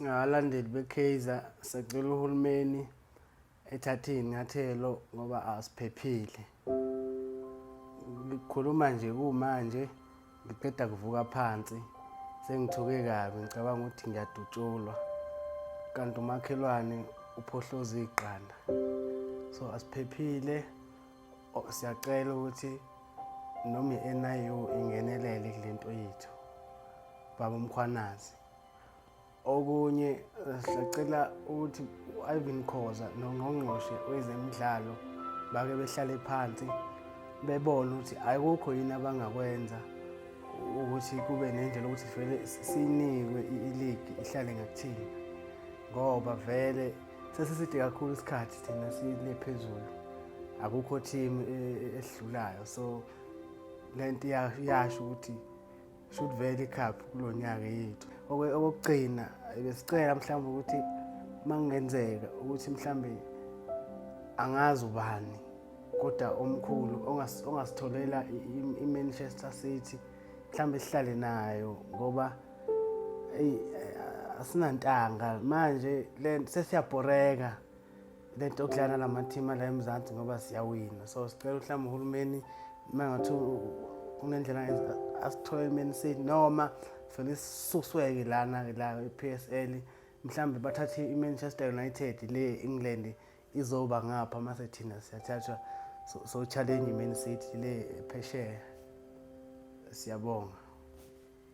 Abalandeli beKaizer sacela uhulumeni ethathe iy'nyathelo ngoba asiphephile. Ngikhuluma nje kumanje ngiqeda kuvuka phansi sengithuke kabi ngicabanga ukuthi ngiyadutshulwa kanti umakhelwane uphohloza iqanda so asiphephile siyacela ukuthi noma i-NIU ingenelele kule nto yethu baba umkhwanazi Okunye eh, sacela ukuthi u-Ivan Khoza nongqongqoshe wezemidlalo bake behlale phansi bebone ukuthi ayikukho yini abangakwenza ukuthi kube nendlela ukuthi vele sinikwe iligi ihlale ngakuthina ngoba vele sesiside kakhulu isikhathi thina sile phezulu akukho team eh, eh, esidlulayo so lento iyasho ukuthi should vele ikhaphi kulo nyaka yethu okokugcina besicela mhlawumbe ukuthi uma kungenzeka ukuthi mhlawumbe angazi ubani kodwa omkhulu ongasitholela i-manchester city mhlawumbe sihlale nayo ngoba eyi asinantanga manje le sesiyabhoreka le nto okudlala la mathima la emzansi ngoba siyawina so sicela uhlamba uhulumeni uma ngathi kunendlela asithole elimeni sethi noma fanele sisusweke lana-ke la i-p s l mhlawumbe bathathe i-manchester united le england izoba ngapha uma sethina siyathathwa so-challenge so i-man city le phesheya siyabonga